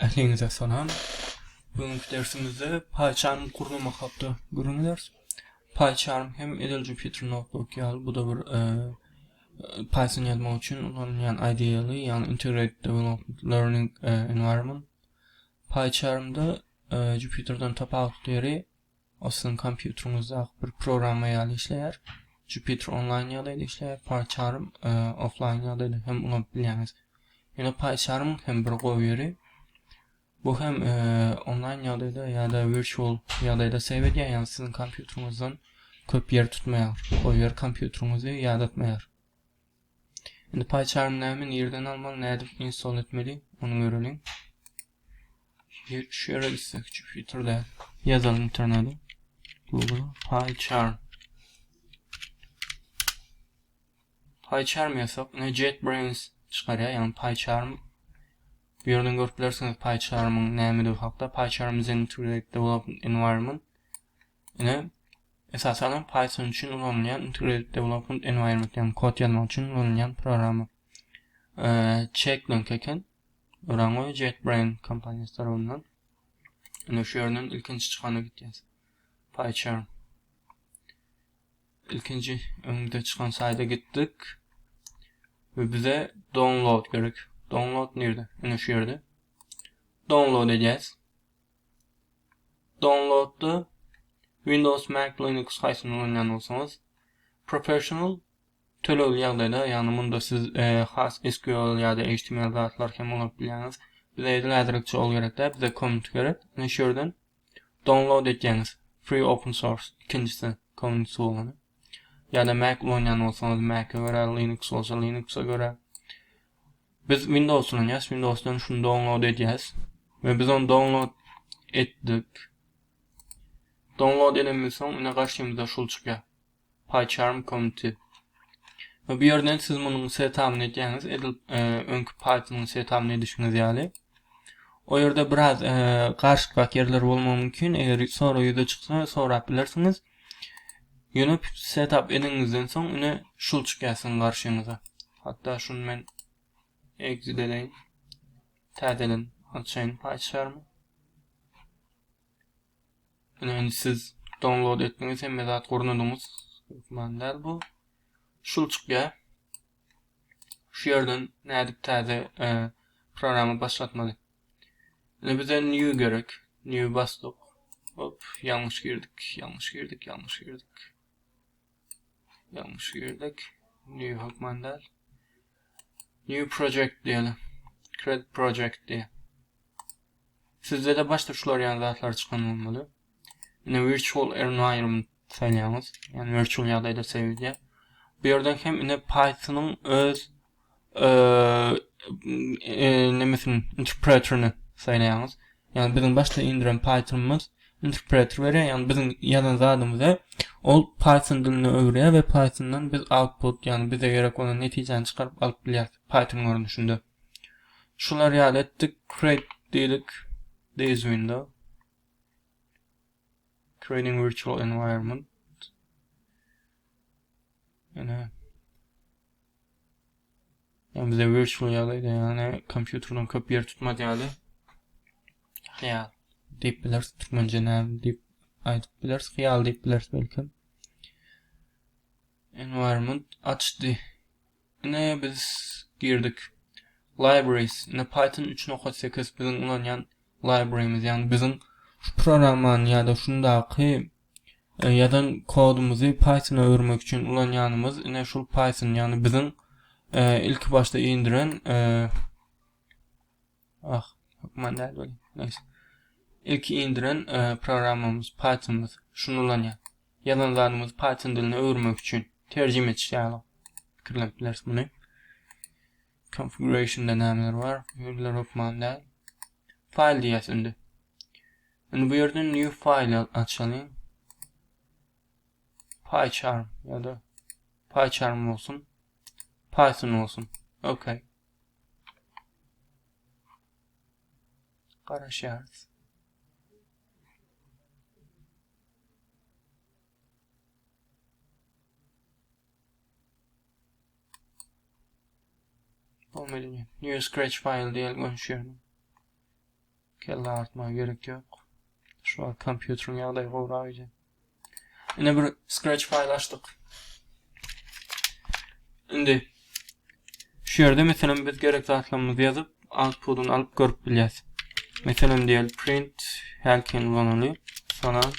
Ähliňize salam. Bu günki dersimizde PyCharm gurnamak hakda öwrenýäris. PyCharm hem edil Jupyter Notebook ýaly bu-da bir Python ýazmak üçin ulanylýan IDE, ýagny Integrated Development Learning Environment. PyCharm-da Jupyter-den tapawutly ýeri Ol siziň kompýuteriňizdaky bir programma ýaly işleýär. Jupyter onlaýn ýagdaýda işleýär, PyCharm e, offlaýn ýagdaýda hem ulanyp bilýäňiz. Ýöne PyCharm hem bir gowy ýeri. Bu hem e, onlaýn ýagdaýda ýa-da virtual ýagdaýda save edýär, ýagny siziň kompýuteriňizden köp ýer tutmaýar. Goýber kompýuteriňizi ýadatmaýar. Indi PyCharm näme, nirden almaly, nädip install etmeli, ony göreliň. Bir şu ýere gitsek, Jupyter-de ýazalyň internete. Google PyCharm. PyCharm ýazsak, ine JetBrains çykarýar, ýagny PyCharm. Bu ýerden görüp bilersiňiz PyCharm-yň nämedir hakda. PyCharm is an integrated development environment. Ine, esasan hem Python üçin ulanylýan Integrated Development Environment, ýagny kod ýazmak üçin ulanylýan programma. Check link eken. Öraňo JetBrains kompaniýasy tarapyndan. Ine şu ýerden ilkinji çykana gitýäs. PyCharm. İlkinci öňde çykan sayda gittik. Ve bize download gerek. Download nerede? Yine şu yerde. Download edeceğiz. Downloadda Windows Mac Linux haýsyny ulanýan bolsaňyz Professional tölegli ýagdaýda ýagny munda siz has SQL ýa-da HTML zatlar hem ulanyp bilýäňiz. Bize edil häzirlikçe ol gerek däl bize Commons gerek. Ine şu ýerden Download etýäňiz. Free open source ikinjisi Commons bolany. Ýa-da Mac ulanýan bolsaňyz Mac-e görä Linux bolsa Linux-a görä. Biz Windows ulanýas, Windowsdan şuny download edýäs we biz ony download etdik. Download edenimizden soň ine garşymyzda şul çykýar. PyCharm Community. We bu ýerden siz munuň setapyny edýäňiz, edil e, öňki Python-yň setapyny edişiňiz ýaly. O ýerde biraz e, garşykrak ýerler bolmagy mümkin, eger sonra ýüze çyksa sorap bilersiňiz. Ýöne setup edeniňizden soň ine şul çykýar siziň garşyňyza. Hatda şuny men exit edeýin. Täzeden açaýyn PyCharm. Ine indi siz download etdiňiz, hemme zat gurnadyňyz. Hökman däl bu. Şul çykýar. Şu ýerden nädip täze programma başlatmaly? Indi bize new gerek. New basdyk. Hop, ýalňyş girdik, ýalňyş girdik, ýalňyş girdik. Ýalňyş girdik. New hökman däl. New project diýeli. Create project diýe. Sizde de başda şular ýaly zatlar çykan bolmaly. Indi virtual environment saýlaýaňyz. Ýagny virtual ýagdaýda save edýär. Bu ýerden hem ine Python-yň öz nemesin interpreterini saýlaýaňyz. Ýagny biziň başda indiren Python-ymyz interpreter berýär. Ýagny biziň ýazan zadymyzy ol Python diline öwürýär we Python-dan biz output, ýagny bize gerek bolan netijäni çykaryp alyp bilýäris Python görnüşinde. Şular ýaly etdik, create diýdik, this window. Training virtual environment. Ene. Yani bize virtual ýagdaýda ýagny kompýuterden köp ýer tutmaz ýaly. Hyýal diýip bileris türkmençe näme diýip aýdyp bileris. Hyýal diýip bileris belki. Environment açdy. Ine biz girdik. Libraries. Ine Python üç nokat sekiz biziň ulanýan librarymiz ýagny biziň şu programmany ýa-da şundaky e, ýazan kodumyzy Pythona öwürmek üçin ulanýanymyz ine şul Python ýagny biziň e, ilki başda indiren e, Ah, hökman däl welin. Nähili? Ilki indiren e, programmamyz Pythonymyz şuny ulanýar. Ýazan zadymyzy Python diline öwürmek üçin terjime etiş ýaly pikirlenip bileris muny. Configurationda nämeler bar? Ýurlar hökman däl. File diýýäs indi. Indi bu ýerden new file açalyň. PyCharm ýa-da PyCharm bolsun. Python bolsun. Okay. garaşýarys. Bu meni new scratch file diýen görüşýär. Kelle agyrtmaga gerek ýok. Şu wagt kompýuteriň ýagdaýy gowrak ije. Ine bir scratch fayl açdyk. Indi şu ýerde meselem biz gerek zatlarymyzy ýazyp, outputyny alyp görüp bilýäs. Meselem diýel print hälkin ulanaly. Salam.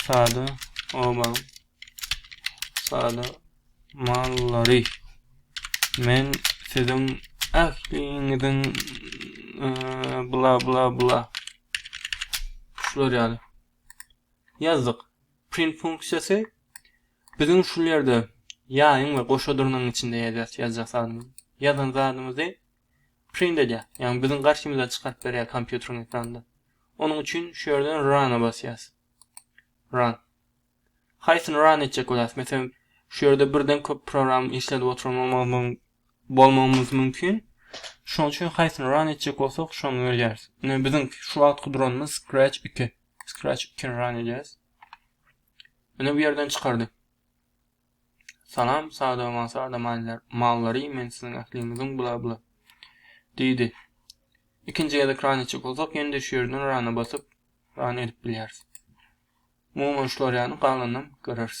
Sada oba Salamallary. Men siziň ähliňiziň bla bla bla şular ýaly ýazdyk. Print funksiýasy biziň şu ýerde ýaýyň we goşa durnuň içinde ýazýas ýazjak zadymyzy. Ýazan zadymyzy print edýär. Ýagny biziň garşymyza çykaryp berýär kompýuteriň ekranynda. Onuň üçin şu ýerden run-a basýas. Run. Haýsyny ran etjek bolarys? Meselem, şu ýerde birden köp program işledip oturmamyz bolmagymyz mümkin. Şonuň üçin haýsyny ran etjek bolsak, şony berýäris. Ine biziň şu wagtky duranymyz Scratch 2. Scratch 2-ni ran edýäris. Ine bu ýerden çykardy. Salam, sada we sada mallar, mallary, men siziň ähliňiziň bla bla. Diýdi. Ikinji gezek ran etjek bolsak, ýene-de şu ýerden rana basyp, Ran edip bilýäris. Umuman şular ýaly galanynam göreris.